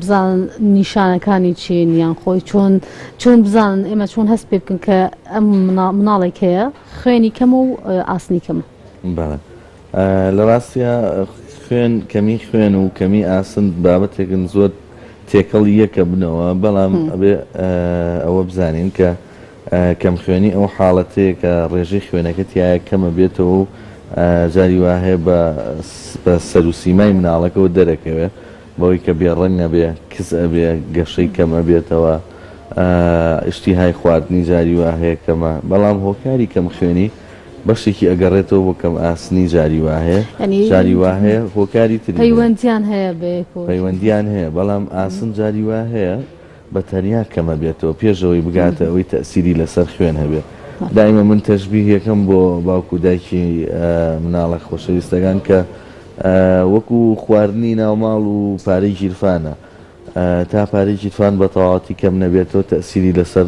بزانن نیشانەکانی چین یان خۆی چۆن چۆن بزانن ئێمە چۆن هەست پێ بکەن کە ئەم مناڵێک هەیە خوێنی کەم و ئاسنی کەمە لە ڕاستە خوێن کەمی خوێن و کەمی ئاسن بابەتێکن زۆر تێکەڵ یەکە بنەوە بەڵام ئەبێ ئەوە بزانین کە کەم خوێنی ئەو حاڵەتەیە کە ڕێژەی خوێنەکە تایە کەمە بێتەوە و جاری وهەیە بە سەروسیمای مناڵەکەەوە دەرەکەوێت بەوەی کە بێ ڕەنگ ئەبێ کز ئەبێ گەشەی کەم ئەبێتەوە ئیشتیهای خواردنی جاری وا هەیە کەمە بەڵام هۆکاری کەم خوێنی بەشێکی ئەگەڕێتەوە بۆ کەم ئاسنی جاری وا هەیە جاری وا هەیە هۆکاری تری پەیوەندیان هەیە بەیەکەوە پەیوەندیان هەیە بەڵام ئاسن جاری وا هەیە بە تەنیا کەمە بێتەوە پێش ئەوەی بگاتە ئەوەی تەئسیری لەسەر خوێن هەبێ دایمە من تەشبیهیەکەم بۆ باوکو دایکی مناڵە خۆشەویستەکان کە وەکو خواردنی ناوماڵ و پارەی گیرفانە تا پارەی گیرفان بە تەواتی کەم نەبێتەوە تەئسیری لەسەر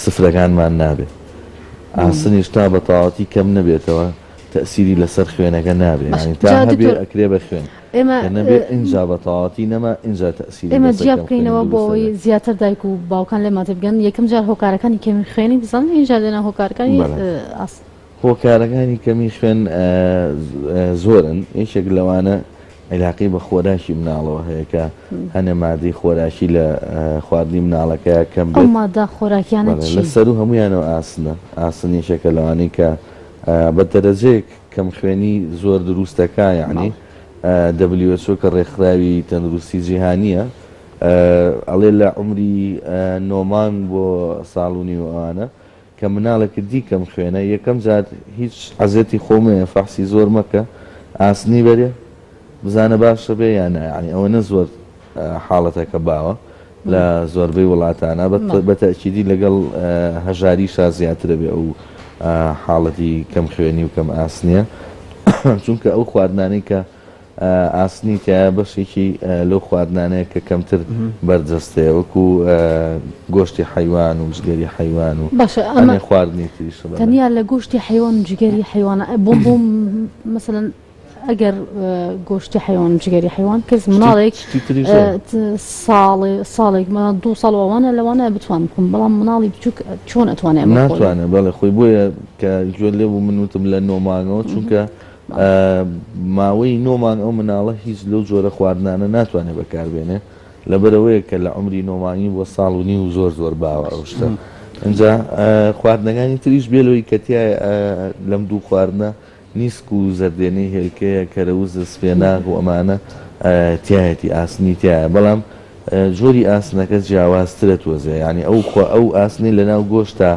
سفرەکانمان نابێ ئاسنیش تا بە تەواتی کەم نەبێتەوە تەئسیری لەسەر خوێنەکە نابێ تا هەبێ ئەکرێ بە خوێن ئێمە کە نەبێ ئینجا بە تەواوەتی نەما ئینجا تەئسیری ئێمە لەسەر جیا کەم خوێنی بکەینەوە بۆ دروستە ئەوەی بێ. زیاتر دایک و باوکان لێمان تێبگەن یەکەم جار هۆکارەکانی کەمی خوێنی بزانن ئینجا دێنە هۆکارەکانی بەڵێ. ئاست. هۆکارەکانی کەمی خوێن زۆرن یەکێک لەوانە عیلاقەی بە خۆراکی مناڵەوە هەیە کە هەنێ مادەی خۆراکی لە خواردنی مناڵەکە کەم ئەو بێت مادە خۆراکیانە بەڵێ چین؟ لەسەروو هەموویانەوە ئاسنە ئاسن یەکێکە لەوانەی کە بە دەرەجەیەک کەم خوێنی زۆر دروستە کا یەعنی دەبلیو ئێچ ئۆ کە ڕێکخراوی تەندروستی جیهانیە ئەڵێ لە عمری نۆ مانگ بۆ ساڵ و نیو ئەوانە کە مناڵێکت دی کەم خوێنە یەکەم جار هیچ عەزێتی خۆ مەیە فەحسی زۆر مەکە ئاسنی بەرێ بزانە باشە بێ یان نا یەعنی ئەوەنە زۆر حاڵەتەکە باوە. لە زۆربەی وڵاتانا بە تەئکیدی لەگەڵ هەژاریشا زیاترەێ ئەو حاڵەتی کەم خوێنی و کەم ئاسنیە چونکە ئەو خواردنانی کە ئاسنی کە بەشێکی لەو خواردنانەیە کە کەمتر بەرجەستەیە وەکو گۆشتی حیوان و جگەری حیوان و خواردنی تریش تەنیا لە گۆشتی حیوان جگەری حیوانە بۆم بۆم مثلەن ئەگەر گۆشتی حیوان جگەری حیوان کەس مناڵێک ساڵێ ساڵێک مە دو ساڵ ئەوانە لەوانە بتوان بکەم بەڵام مناڵی بچووک چۆن ئەتوانێت ناتوانێت بەڵێ خۆی بۆیە کە گوێ لێ بوو منوتم لە نۆمانەوە چونکە ماوەی نۆمان ئەو مناڵە هیچ لەو جۆرە خواردنانە ناتوانێت بەکاربێنێ لەبەرەوەیە کە لە عمری نۆمانی بۆ ساڵ و نی و زۆر زۆر باوە ئەو شتە ئەجا خواردنەکانی تریش بێلەوەی کەتیای لەم دوو خواردنە نیسک و زەردێنەی هێلکەیە، کەرەوزە، سپێناغ و ئەمانە تیایەتی، ئاسنی تیایە بەڵام جۆری ئاسنەکە جیاوازترە تۆزێ یانی ئەو خۆ ئەو ئاسنەی لەناو گۆشتە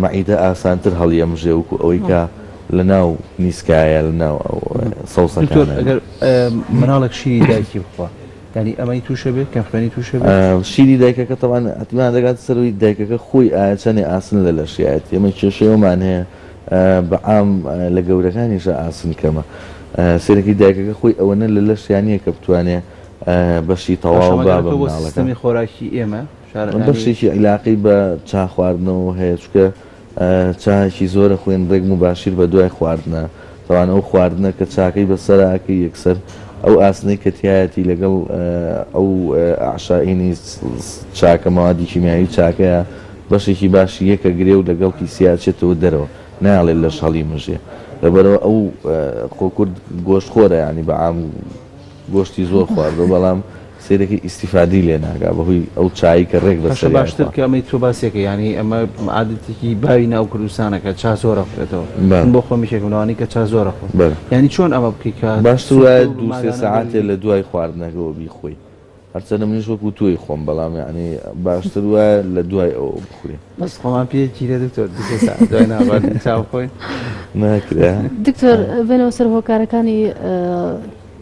مەعیدە ئاسانتر هەڵیەمژێ وەکو ئەوەی کە لەناو نیسکایە لەناو ئەو سەوسەکانە. دکتۆر ئەگەر مناڵێک شیری دایکی بخوا یانی ئەمەی توشە بێت کەم خوێنی توشە بێت؟ شیری دایکەکە تەبعەن ئەتمان دەگاتە سەر ئەوەی دایکەکە خۆی ئایە چەنێ ئاسن لە لەشیایەتی ئەمە کێشەی ئەومان هەیە. بە عام لە گەورەکانیشا ئاسن کەمە. سەیرەکی دایکەکە خۆی ئەوەنە لە لەشیا نیە کە بتوانێ بەشی تەواو با بە مناڵەکە. بەشێکی عیلاقەی بە چا خواردنەوە هەیە چونکە چایەکی زۆرە خوێن رێک موباشیر بە دوای خواردنە. تاوانە ئەو خواردنە کە چاکەی بە سەرا ئەکەی یەکسەر ئەو ئاسنەی کە تیایەتی لەگەڵ ئەو ئەعشائینی چاکە مەوادی کیمیایی چاکەیە بەشێکی باشی یەک ئەگرێ و لەگەڵ پیسی ئەچێتەوە دەرەوە نایەڵێ لەش هەڵیمژێ لەبەرەوە ئەو خۆ کورد گۆشتخۆرە یانی بە عام گۆشتی زۆر خواردوە بەڵام سەیرەکەی ئیستیفادەی لێ ناکا بەهۆی ئەو چایەی کە رێک بەسەریا ئەخوا. هەشە باشتر کە ئەمەی تۆ باسی ئەکەی یانی ئەمە عادەتێکی باوی ناو کوردستانە کە چا زۆر ئەخورێتەوە من بۆ خۆمیش یەکم لەوانی کە چا زۆر ئەخۆم یانی چۆن ئەمە بکەی کە باشتر وایە دوو سێ سەعاتێ لە دوای خواردنەکەوە بیخۆی هەرچەندە منیش وەکو تۆی خۆم بەڵام یانی باشتر وایە لە دوای ئەوە بخورێ. بەس خۆمان پێ گیرێ دکتۆر دوو سێ سەعات دوای ناخواردنی چا بخۆین. ناکرێ. دکتۆر بێنەوە سەر هۆکارەکانی.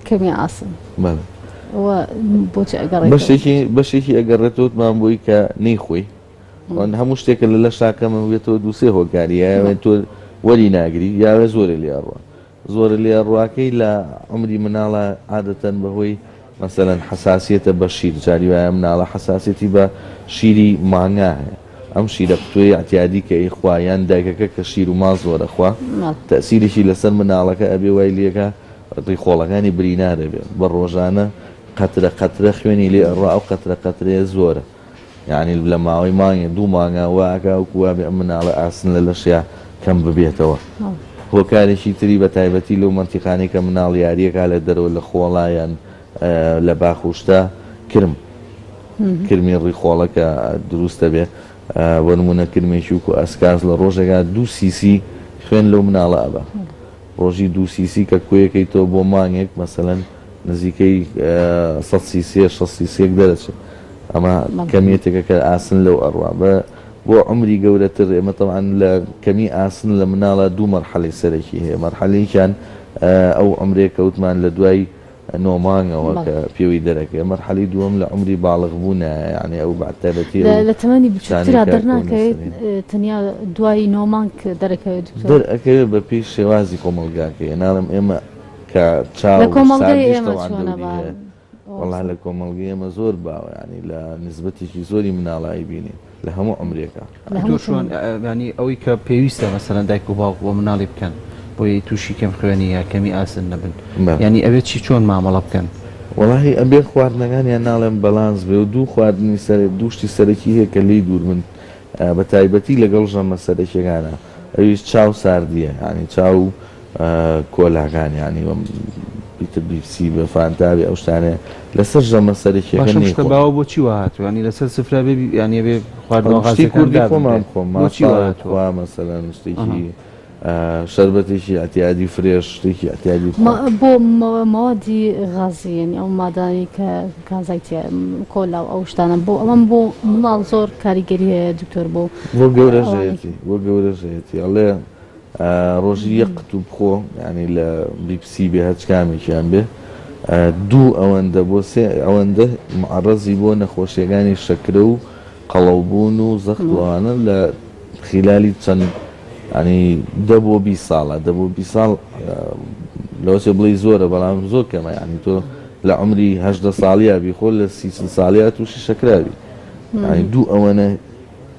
کەمی ئاسن بەڵێ و بۆچی ئەگەڕێتەوە بەشێکی بەشێکی ئەگەڕێتەوە وتمان بۆی کە نەیخۆی ئەوەن هەموو شتێکە لە لە شاکەمە بێتەوە دوو سێ هۆکاری یاوێ تۆ وەری ناگری یاوێ زۆرە لێ ئەڕوە زۆرە لێ ئەڕواکەی لە عمری مناڵە عادەتەن بەهۆی مەسەلەن حەساسیەتە بە شیر جاری وایە مناڵە حەساسیەتی بە شیری مانگا هەیە ئەم شیرە پتوێی عتیادی کە ئی خوایان دایکەکە کە شیر و ما زۆرە خوا ماڵ تەسیرێکی لەسەر مناڵەکە ئەبێ وای لێکە ڕووی خۆڵەکانی برینا دەبێ بە ڕۆژانە قەترە قەترە خوێنی لێ ئەڕوا ئەو قەترە قەترەیە زۆرە یانی لە ماوەی مانگێ دوو مانگە وا ئەکا وەکو وا بێ ئەم مناڵە ئاسن لە لەشیا کەم ببێتەوە هۆکارێکی تری بە تایبەتی لەو مەنتیقانەی کە مناڵ یاریەکە لە دەرەوە لە خۆڵایەن لە باخ و شتە کرم کرمی ڕیخۆڵە کە دروستە بێ بۆ نمونە کرمێکی وکو ئەسکاس لە ڕۆژێکا دوو سیسی خوێن لەو مناڵە ئەبا ڕۆژی دوو سیسی کە کۆیەکەیتەوە بۆ مانگێک مەسەلەن نزیکەی سەد سیسێ شەست سیسیەک دەرەچێت ئەمە کەمیەتێکە کە ئاسن لەو ئەڕوا بە بۆ عەمری گەورەتر ئێمە تەوان لە کەمی ئاسن لە مناڵە دوو مەرحەلەی سەرەکی هەیە مەرحەلەیەکیان ئەو عەمرێ کەوتمان لە دوای نۆ مانگەوە کە پێوەی دەرەکەوێت مەرحەلەی دووەم لە عومری باڵغ بوونایە یانی ئەو بە تایبەتی ئەو لە تەمەنی بچووکترا دەرناکەوێت تەنیا دوای نۆ مانگ دەرەکەوێت دکتۆر؟ دەرئەکەوێت بە پێی شێوازی کۆمەڵگاکەی ناڵێم ئێمە کە چاو لە کۆمەڵگەی ئێمە چۆنە بەڵام؟ وەڵا لە کۆمەڵگەی ئێمە زۆر باوە یانی لە نیسبەتێکی زۆری مناڵ ئەیبینین. لە هەموو عمرێکە تۆ چۆن ینی ئەوەی کە پێویستە مەسەرەن دایک و باوک بۆ مناڵی بکەن بۆی تووشی کەم خوێنی یا کەمی ئاسن نەبن ینی ئەوێت چی چۆن مامەڵە بکەن وڵی ئەبێ خواردنەکانیان ناڵێن بەلانس بێ و دوو خواردنی سەر دووشتی سەرەکی هەیە کە لی دوور من بە تایبەتی لەگەڵ ژەمە سەرەکیەکانە ئەویش چاو ساردیە ینی چاو کۆلاکان یانی وەم ئیتر بیپسی بە فانتا بێ ئەو شتانە لەسەر ژەمە سەرەکیەکە نەیخۆم. باشە ئەم شتە باوە بۆ چی وا هاتووە یانی لەسەر سفرە بێ یانی ئەبێ خواردنەوە غازیەکان دابنرێ؟ شتی کوردی خۆمان بخۆم مافا کوا مەسەلەن شتێکی شەربەتێکی ئەتیادی فرێش شتێکی ئەتیادی بۆ مەوادی غازی یانی ئەو مادانەی کە کانزای تیا کۆلا و ئەو شتانە بۆ ئەوەم بۆ منداڵ زۆر کاریگەری هەیە دکتۆر بۆ بۆ گەورەژەیەتی بۆ گەورەژەیەتی ئەڵێ ڕۆژی یەک قتوو بخۆ یانی لە بیپسی بێ هەرچ کامێکیان بێ دوو ئەوەندە بۆ سێ ئەوەندە معەڕەزی بۆ نەخۆشیەکانی شەکرە و قەڵەوبوون و زەخت و ئەوانە لە خیلالی چەند ینی دە بۆ بیست ساڵە دە بۆ بیست ساڵ لەوەچێ بڵێی زۆرە بەڵام زۆر کەمە یانی تۆ لە عمری هەژدە ساڵیا بی خۆ لە سی چل ساڵیا تووشی شەکرا بی ینی دوو ئەوەنە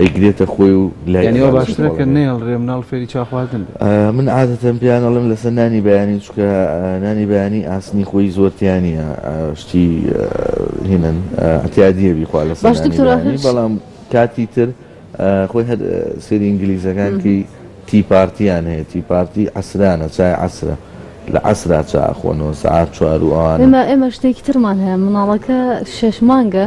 ئەیگرێتە خۆی و لای یانی ئەوە باشترە کە نەیەڵرێ مناڵ فێری چا خواردن بێ من عادەتەن پێیان ئەڵێم لەسەر نانی بەیانی چونکە نانی بەیانی ئاسنی خۆی زۆر تیا نییە شتی هینن ئەتیادیە بیخوا لەسەر باشتر نانی تراخش. بەیانی بەڵام کاتی تر آه، خۆی هەر آه، سری ئینگلیزەکان کی تی پارتیان هەیە تی پارتی عەسرانە چای عەسرە لە عەسرا چا ئەخۆنەوە سەعات چوار و ئەوانە ئێمە ئێمە شتێکی ترمان هەیە مناڵەکە شەش مانگە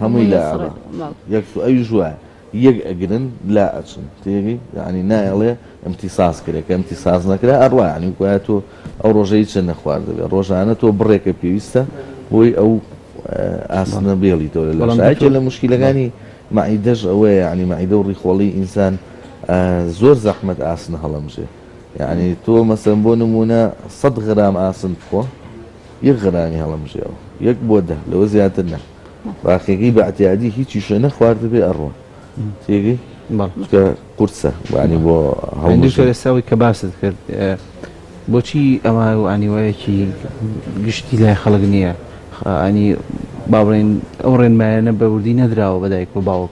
هەمووی لای ئەڕا یەک سو ئەویش وایە یەک ئەگرن لا ئەچن تێگەی یانی نایەڵێ ئەمتیساس کرێ کە ئەمتیساس نەکرا ئەڕا عنی گوایە تۆ ئەو ڕۆژەی چە نەخواردەبێ ڕۆژانە تۆ بڕێکە پێویستە بۆی ئەو ئاسنە بێڵی تۆ لە شاکێ لە مشکیلەکانی معیدەش ئەوەیە عنی معیدە و ڕیخۆڵی ئینسان زۆر زەحمەت ئاسنە هەڵەمژێ یعنی تۆ مەسەن بۆ نمونە سەد غرام ئاسن بخۆ یەک غەنامی هەڵەمژێوە یەک بۆ دە لەوە زیاتر نا باقیەکەی بە ئەتیادی هیچی شوێ نەخواردە بێ ئەڕوە تێگەی کە قورسە وانی بۆ هەڵساوی کە باست کرد بۆچی ئەوە و ئەنیوەیەکی گشتی لای خەڵک نییە ئەنی باڵێن ئەو ڕێنمایانە بەوردی نەدراوە بەدایک و باوک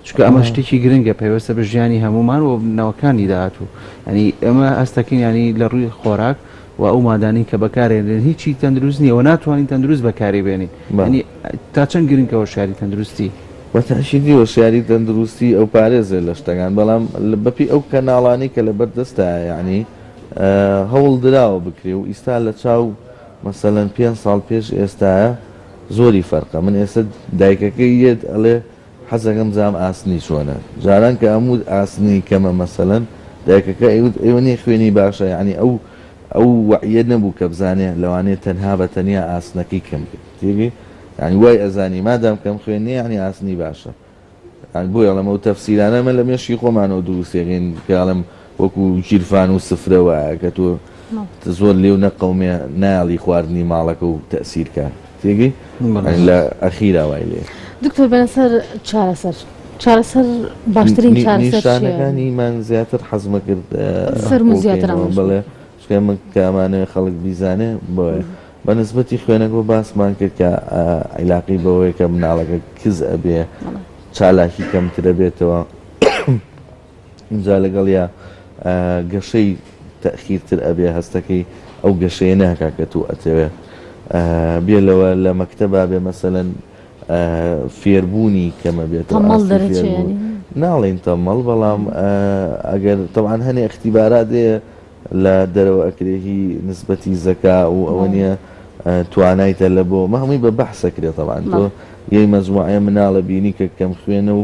چکە ئەمە شتێکی گرنگە پێوەستە بە ژیانی هەمومان و نەوەکانی داهاتوو ئەنی ئەمە ئەستەکەین ینی لە ڕووی خۆراک و ئەو مادانەی کە بەکارێنرێن هیچی تەندروست نیە و ناتوانین تەندروست بەکاری بێنین ینی تا چەند گرنکە هۆشیاری تەندروستی؟ بە تاکیدی هۆشیاری تەندروستی ئەو پارێزێ لە شتەکان بەڵام بە پێی ئەو کەناڵانەی کە لەبەر دەستا یانی هەوڵ دراوە بکرێ و ئیستا لە چاو مەسەلەن پێنج ساڵ پێش ئێستایە زۆری فەرقە من ئێستا دایکەکەی یێت ئەڵێ حەزەکەم زام ئاسنی چۆنە جاران کە ئەموت ئاسنی کەمە مەسەلەن دایکەکە ئەیوت ئەوە نیە خوێنی باشە یانی ئەو ئەو وەعیە نەبوو کە بزانێ لەوانەیە تەنها بە تەنیا ئاسنەکەی کەم بێ تێگەی یانی وای ئەزانی مادام کەم خوێن نیە یانی ئاسنی باشە یانی بۆیە ئەڵێم ئەو تەفسیرانە ئەمە لە مێشکی خۆمانەوە دروستیەکەین کە ئەڵێم وەکو گیرفان و سفرە وایە کە تۆ زۆر لێو نەقەومێ نایەڵی خواردنی ماڵەکە و تەسیر کا تێگەی لە ئەخیرا وای لێ دکتۆر بەە سەر چارەسەر چارەسەر باشترین چارەسەرەکانی من زیاتر حەزمە کرد سەر زیاتر بڵێ شکە من کامانەوە خەڵک بیزانێ بۆ بە نسبەتی خوێنەگۆ باسمان کرد کە عیلاقی بەوەیە کە مناڵەکە کز ئەبێ چالاکی کەمترە بێتەوە ئینجا لەگەڵیا گەشەی تەئخیرتر ئەبێ هەستەکەی ئەو گەشەیە ناکا کە تۆ ئەتەوێ بێ لەوە لە مەکتەبا بێ مەسەلەن فێربوونی کەمە بێت تەمەڵ دەرەچێ یانی ناڵێن تەمەڵ بەڵام ئەگەر تەوان هەنێ اختیبارات هەیە لە دەرەوە ئەکرێهی نسبەتی زەکا و ئەوە نیە توانایتە لە بۆ مە هەمووی بە بەحسەکرێتەوان تۆ یەی مەزموعە مناڵە بینی کە کەم خوێنە و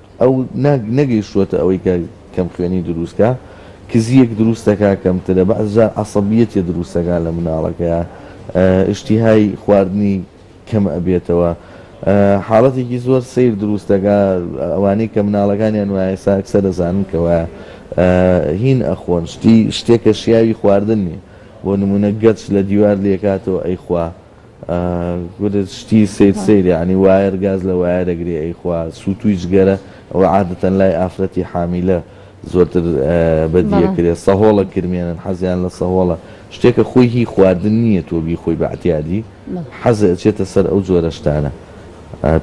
ئەو نەگەیشتووەتە ئەوەی کە کەم خوێنی دروست کا، کزییەک دروست دەکا کەمترە، بەعس جار عەسەبیەتیە دروست دەکا لە مناڵەکەیا، ئیشتیهای خواردنی کەم ئەبێتەوە، حاڵەتێکی زۆر سەیر دروست دەکا، ئەوانەی کە مناڵەکانیان وایە ئێستا ئەکسەر ئەزانن کە وایە هین ئەخۆن شتی شتێک کە شیاوی خواردن نیە، بۆ نموونە گەچ لە دیوار لێکاتەوە ئەیخوا. کورە شتی سەیر سەیر یەعنی وایەر گاز لە وایەر ئەگرێ ئەی خوا سوتوی جگەرە ئەوە عادەتەن لای ئافرەتی حامیلە زۆرتر بەدی ئەکرێ سەهۆڵە کرمێنن حەزیان لە سەهۆڵە شتێکە خۆی هی خواردن نییە تۆ بیخۆی بە ئەتیادی حەزێ ئەچێتە سەر ئەو جۆرە شتانە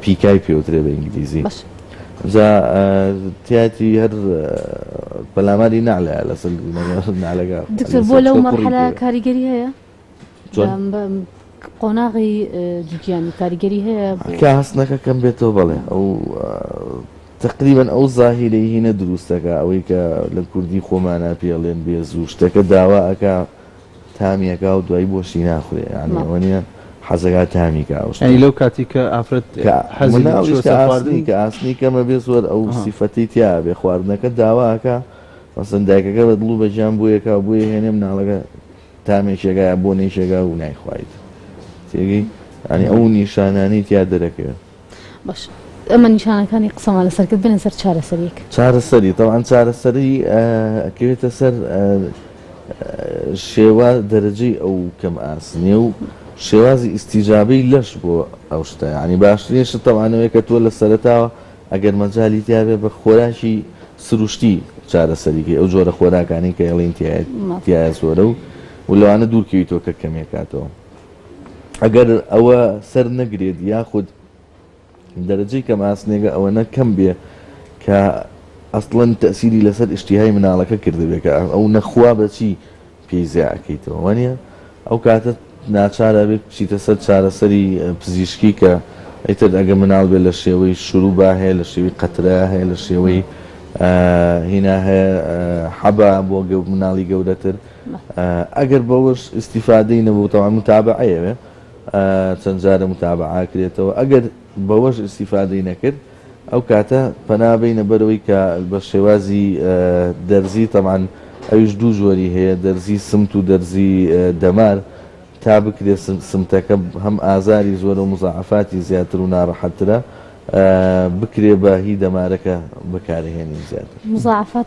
پیکای پێوترێ بە ئینگلیزی جا تیاتی هەر پەلاماری نەعلەیە لەسەر نەعلەکە دکتۆر بۆ لەو مەرحەلە کاریگەری هەیە؟ قۆناغی جوتیانی کاریگەری هەیە کا هەستنەکە کەم بێتەوە بەڵێ ئەو تقریبن ئەو زاهیرەی هینە دروستەکە ئەوەی کە لە کوردی خۆمانە پێڵێن بێ زوو شتەکە داوا ئەک تامیەکە و دوای بۆشی ناخورێ یانەوە نیە حەزەکە تامیکە ئەوشنی لەو کاتی کە ئافرەت حەزناڵی کە ئاسنی کەمە بێ زۆر ئەو سیفەتی تیا بێ خواردنەکە داواکە مەسن دایکەکە بە دڵ و بەجان بۆیەکە بۆیە هێنێ مناڵەکە تامێ کێگا یا بۆنەی کێگا و نایخوایت تێگەی یانی ئەو نیشانانەی تیا دەرەکەوێت. باش ئەمە نیشانەکانی قسەمان لەسەر کرد بێنە سەر چارەسەریەک. چارەسەری تەوان چارەسەری ئەکەوێتە سەر شێوا دەرەجەی ئەو کەم ئاسنیە و شێوازی ئیستیجابەی لەش بۆ ئەو شتە یانی باشترین شت تەوانەوەیە کە تۆ لە سەرەتاوە ئەگەر مەجالی تیابێت بە خۆراکی سروشتی چارەسەری کەی ئەو جۆرە خۆراکانەی کە ئێڵین تیایە زۆرە و و لەوانە دوورکەویتەوە کە کەمێکاتەوە ئەگەر ئەوە سەر نەگرێت یاخود دەرەجەی کەم ئاسنێگە ئەوە نەکەم بێ کە ئەسڵەن تەسیری لەسەر ئشتیهای مناڵەکە کردبێکە ئەو نەخوا بەچی پێی زیا ئەکەیتەوە وانیە ئەو کاتە ناچار ئەبێت بچیتە سەر چارەسەری پزیشکی کە ئیتر ئەگە مناڵ بێت لە شێوەی شروبا هەیە لە شێوی قەترە هەیە لە شێوەی هینا هەیە حەبا بۆ مناڵی گەورەتر ئەگەر بەوەش ئیسیفادەی نەبوو تەوان متابع ئەیەوێ چەند جارە متابعاکرێتەوە ئەگەر بەوەش ئیسیفادەی نەکرد ئەو کاتە پەنا بەینە بەرەوەی کە بە شێوازی دەرزی تەبعەن ئەویش دوو جۆری هەیە دەرزی سمت و دەرزی دەمار تا بکرێ سمتەکە هەم ئازاری زۆرە و مزاعەفاتی زیاتر و نارەحەتترە بکرێ بە هی دەمارەکە بەکارهێنین زیاتر. مزاعەفات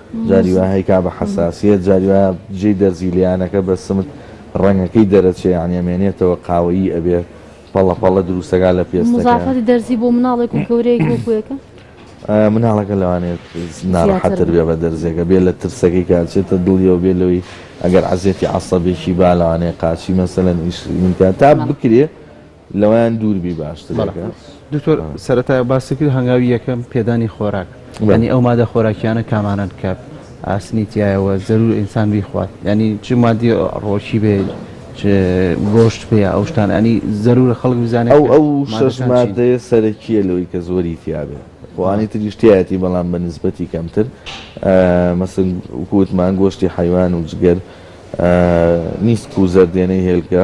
جاری وایە هەی کابە حەساسیەت جاری وایە جێی دەرزی لێیانەکە بە سمت ڕەنگەکەی دەرەچێ یانی ئەمێنێتەوە قاوەیی ئەبێ پەڵە پەڵە دروستەکا لە پێستەکە. مزافەتی دەرزی بۆ مناڵێک و گەورەیەک وەکو یەکە؟ مناڵەکە لەوانێت ناڕەحەت تر بێ بە دەرزیەکە بێ لە ترسەکەی کە ئەچێتە دڵیەوە بێ لەوەی ئەگەر عەزێتی عەسەبێکی با لەوانەیە قاچی مەسەلەن ئیش من کا تا بکرێ لەوەیان دوور بی باشترە. دکتۆر سەرەتا باست کرد هەنگاوی یەکەم پێدانی خۆراک ینی ئەو مادە خۆراکیانە کامانەن کە ئاسنی تایەوە زەرور ئینسان بیخوات ینی چ مادی ڕۆکی بێ گۆشت پێ ئەو شتان ئەنی زەرورە خەڵک بزانێت ئەو ئەو شش مادەیە سەرەکیە لەوەی کە زۆری تیاابێ خوانی تریشتایەتی بەڵام بە نسبەتی کەمتر مەسن وکووتمان گۆشتی حیوان و جگەر نیست و زەردێنەی هێلکە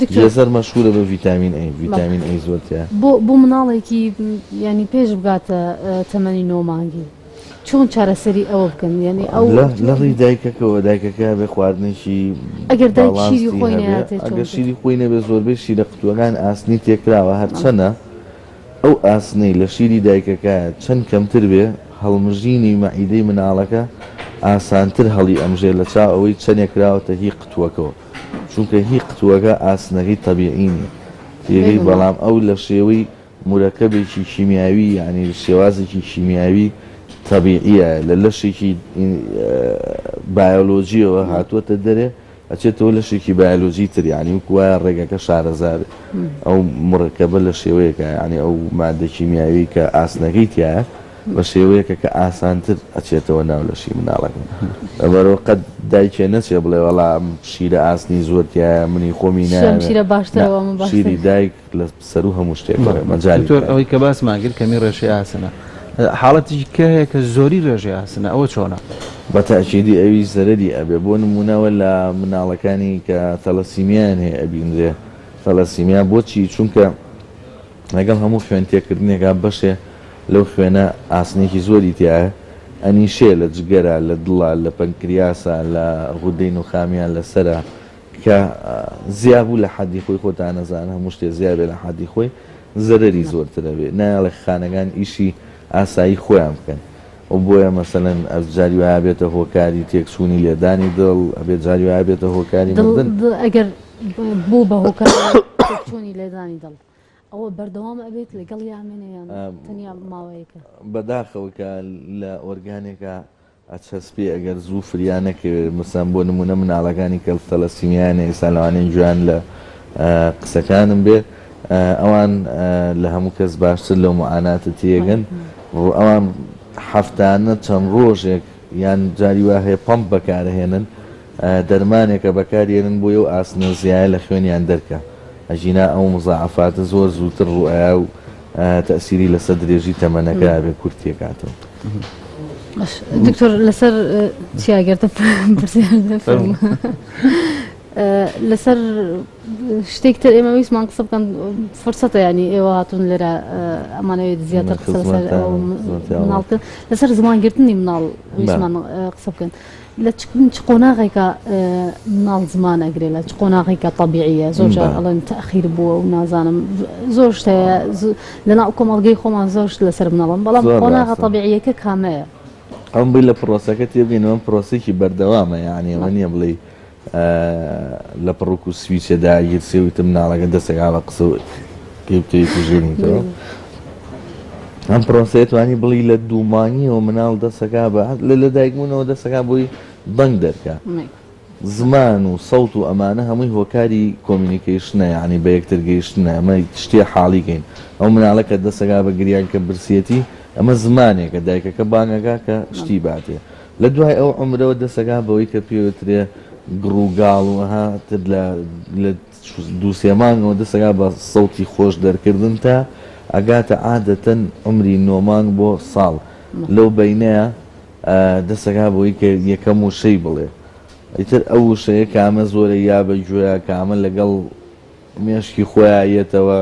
دکتۆر. جزر مەشهورە بە ڤیتامین ئەی ڤیتامین ئەی زۆر تیایە. بۆ بۆ مناڵێکی یانی پێش بگاتە تەمەنی نۆ مانگی چۆن چارەسەری ئەوە بکەن یانی ئەو لە ڕوی دایکەکەەوە دایکەکە بێ خواردنێکی ئەگەر دایکی خۆی نەیاتێت ئەگەر شیری خۆی نەبێ زۆربەی شیرە قوتووەکان ئاسنی تێکراوە هەرچەنە ئەو ئاسنەی لە شیری دایکەکایە چەند کەمتر بێ، هەڵمژینی مەعیدەی مناڵەکە ئاسانتر هەڵیئەمژێ لە چاو ئەوەی چەنێ کراوەتە هی قتووەکەوە، چونکە هی قتووەکە ئاسنەکەی تەبیعی نیە تێگەی، بەڵام ئەو لە شێوەی مورەکەبێکی کیمیاوی یانی شێوازێکی کیمیاوی تەبیعیە لە لەشێکی بایۆلۆجیەوە هاتووەتە دەرێ، ئەچێتەوە لەشێکی بایەلۆجی تر یانی وەکو وایە ڕێگەکە شارەزا بێت ئەو مڕکەبە لە شێوەیەکە یانی ئەو مادە کیمیاوی کە ئاسنەکەی تایە بە شێوەیەکە کە ئاسانتر ئەچێتەوە ناو لەشی مناڵەکە ئەمەەوە قەت دایکێ نەچێ بڵێ وەڵام شیرە ئاسنی زۆرتیایە منی خۆمی ناێ شیری دایک لە سەرو هەموو شتێک بەڵێ مەجالی نیە. دکتۆر ئەوەی کە باسمان کرد کەمی ڕێشەی ئاسنە حاڵەتێکی کە هەیە کە زۆری ڕێژەی ئاسنە ئەوە چۆنە؟ بە تاکیدی ئەویش زەرەری ئەبێ بۆ نموونە وە لە مناڵەکانی کە ثەلەسیمیایان هەیە ئەبینرێ ثەلەسیمیا بۆچی چونکە لەگەڵ هەموو خوێن تێکردنێکا بەشێ لەو خوێنە ئاسنێکی زۆری تیایە ئەنیشێ لە جگەرا لە دڵە لە پەنکریاسە لە غودەی نوخامیا لە سەرە کە زیا بوو لە حەدی خۆی خۆتان ئەزانن هەموو شتێ زیا بێ لە حەدی خۆی زەرەری زۆرتر ئەبێ نایەڵێ خانەکان ئیشی ئاسایی خۆیان بکەن و بۆیە مەسەلەن ئەز جاری وایە بێتە هۆکاری تێک چوونی لێدانی دڵ ئەبێ جاری وایە بێتە هۆکاری مردن ئەگەر بوو بە هۆکار چوونی لێدانی دڵ ئەوە بەردەوام ئەبێت لەگەڵ یامێنەیان تەنیا ماوەیەکە بەداخەوە کە لە ئۆرگانێکە ئەچەسپێ ئەگەر زوو فریا نەکەوێ مثلەن بۆ نموونە مناڵەکانی کە ثەلەسیمیایان هەیە ئێستا لەوانەیە جوان لە قسەکانم بێ ئەوان لە هەموو کەس باشتر لەو معاناتە تێگەن ئەوان هەفتانە چەند ڕۆژێک یان جاری وا هەیە پەمپ بەکارەهێنن دەرمانێکە بەکاریەنن بۆی ئەو ئاسنە زیایە لە خوێنیان دەرکا ئەژینا ئەو مزاعەفاتە زۆر زووتر ڕوو ئەیا و تەئسیری لەسەر درێژی تەمەنەکە ئەبێ کورت تێکاتەوە. دکتۆر لەسەر چیاگەردە لەسەر شتێک تر ئێمە ویسمان قسە بکەن فرسەتە ینی ئێوە هاتون لێرە ئەمانەوێت زیاتر قسە مناڵکە لەسەر زمانگرتنی مناڵ ویسمان قسە بکەن لە چ قۆناغێکە مناڵ زمان ئەگرێت لە چ قۆناغێکە طبیعە زۆر جار ئەڵێن تاخیر بووە و نازانم زۆر شتەیە لەناو کۆمەڵگەی خۆمان زۆر لەسەر مناڵم بەڵام قۆناغە طبیعیەکە کامەیە ئەم بی لە پرۆسەکە تێبگەینەوەم پرۆسێکی بەردەوامە یانەوە نییە بڵێ لە پڕوک و سویچێ داگیرسێ وتم مناڵەکە دەستێک ئاڵە قسە پێ بکەوی کوژێنیتەوە ئەم پرۆسەیە توانی بڵی لە دوومانیەوە مناڵ دەسەکە بە لە لە دایکبوونەوە دەسەکە بۆی دەنگ دەرکە زمان و سەوت و ئەمانە هەمووی هۆکاری کۆمیونیکیشنە یعنی بە یەکتر گەیشتنە ئەمە شتێ حاڵیکەین ئەو مناڵە کە دەسەکە بە گریان کە برسیەتی ئەمە زمانێکە دایکەکە بانگەکە کە شتی باتێ لە دوای ئەو عومرەوە دەسەگا بەوەی کە پێ وترێ گڕ و گاڵ و ئەها تر لە لە دوو سێ مانگەوە دەسەگا بە سەوتی خۆش دەرکردن تا ئەگاتە عادەتەن عومری نۆ مانگ بۆ ساڵ لەو بەینەیە دەسەگا بەوەی کە یەکەم وشەی بڵێ ئیتر ئەو وشەیە کامە زۆرە یا بە گوێە کامە لەگەڵ مێشکی خۆیا یەتەوە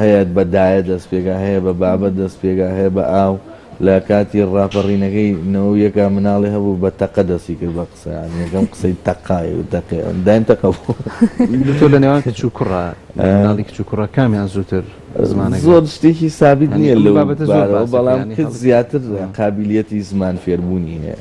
هەیە بە دایە دەست پێکا هەیە بە بابە دەست پێکا هەیە بە ئاو لە کاتی ڕاپەڕینەکەی نەوەو یەکا مناڵی هەبوو بە تەقە دەستی کرد بە قسە یەکەم قسەی تەقای و تەقێ دایم تەقە بوو تۆ لە نێوان کچ و کوڕە مناڵی کچ و کوڕە کامیان زووتر زمانە زۆر شتێکی سابیت نییە لە بابەتە زۆر بەڵام کچ زیاتر قابلیەتی زمان فێربوونی هەیە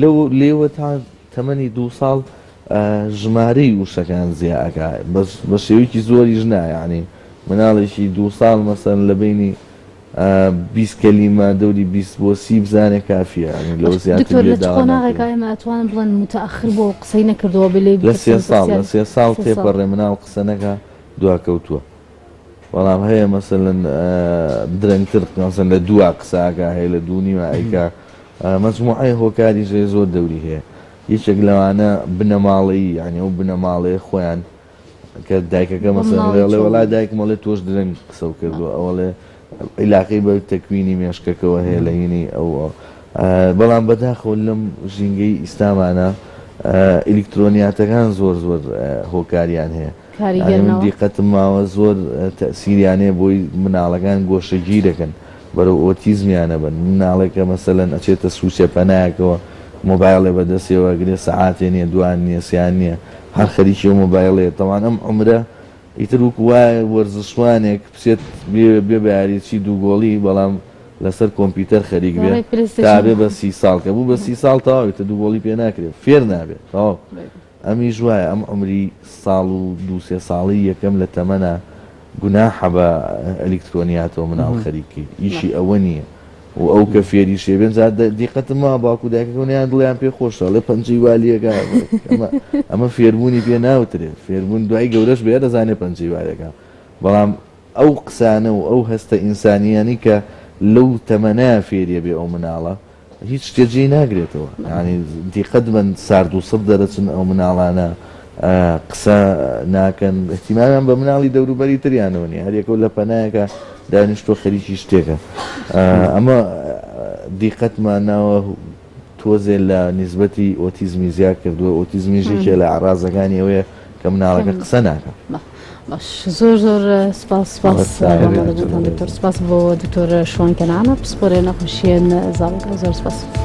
لەو لێوە تا تەمەنی دوو ساڵ ژمارەی وشەکان زیا ئەکا بەس بە شێوەیەکی زۆریش نا یەعنی مناڵێکی دوو ساڵ مەسەن لە بەینی بیست کەلیمە دەوری بیست بۆ سی بزانێ کافیە یعنی لەوە زیاتر دکتۆر لە چ بێداوا قۆناغێکا ناکرێ ئێمە ئەتوانن بڵێن متەئەخر بووە و قسەی نەکردووە بێ لێی لە سێ بپرسین ساڵ لە پرسیاری سێ ساڵ سێ ساڵ تێپەڕێ مناڵ قسە نەکا دواکەوتووە. بەڵام هەیە مەسەلەن درەنگتر مەسەلەن لە دووا قسە ئەکا هەیە لە دوو نیوە ئەیکا مەجموعەی هۆکاریش هەیە زۆر دەوری هەیە یەکێک لەوانە بنەماڵەیی یانی ئەو بنەماڵەیە خۆیان کە دایکەکە مەسەلەن بۆ لێڵێ مناڵی وەڵا چۆڵی دایکم ئەڵێ تۆش درەنگ قسە کردووە ئەوەڵێ عیلاقەی بە تەکوینی مێشکەکەوە هەیە لە هینی ئەو ئەو. آه، بەڵام بەداخەوە لەم ژینگەی ئیستامانە آه، ئیلکترۆنیاتەکان زۆر زۆر آه، هۆکاریان هەیە کاریگەر نەوە. ئەی من دیقەتم ماوە زۆر تەئسیریان هەیە بۆی مناڵەکان گۆشەگیرەکەن بەرەو ئۆتیزمیان ئەبەن مناڵێکە مەسەلەن ئەچێتە سوچە پەنایەکەوە مۆبایڵێ بەدەستیەوە ئەگرێ سەعاتێ نیە دوان نیە سێان نیە هەر خەریکی ئەو مۆبایڵەیە تەوان ئەم عومرە ئیتر وەکو وایە وەرزشوانێک بچێت بێ بێ بەیاریچی دوو گۆڵی بەڵام لەسەر کۆمپیوتەر خەریک بێ تا بێ بە سی ساڵ کە بوو بە سی ساڵ تەواوی تە دوو گۆڵی پێ ناکرێ فێر نابێ تەواو ئەمیش وایە ئەم عومری ساڵ و دوو سێ ساڵی یەکەم لە تەمەنە گوناحە بە ئەلیکترۆنیاتەوە مناڵ خەریک کەی ئیشی ئەوە نیە و ئەو کە فێری شێ بێن جا دیقەتم وا باوکو دایکەکەم نیان دڵیان پێ خۆشە ئەڵێ پەنجەی وا لێگا ئەمە فێربوونی پێ ناوترێت فێربوون دوای گەورەش بێ دەزانێ پەنجەی وا لێگا بەڵام ئەو قسانە و ئەو هەستە ئینسانییانی کە لەو تەمەنە فێریە بێ ئەو مناڵە هیچ شتێ جێی ناگرێتەوە یانی دیقەت بەن سارد و سڕ دەرەچن ئەو مناڵانە قسە ناکەن احتیمامیان بە مناڵی دەوروبەری تریانەوە نیە هەرێکەوە لە پەنایەکە دانیشتۆ خەریکی شتێکە ئەمە دیقەتمان ناوە تۆزێ لە نسبەتی ئۆتیزمی زیاد کردووە ئۆتیزمیژێکێ لە ئارازەکانی ئەوەیە کە مناڵەکە قسە ناکە. زۆر زۆر سپاس سپاس سپاس بۆ دکتۆر شوان کەنانە پسپۆرێ نەخۆشیێن زانکە زۆر سپاس.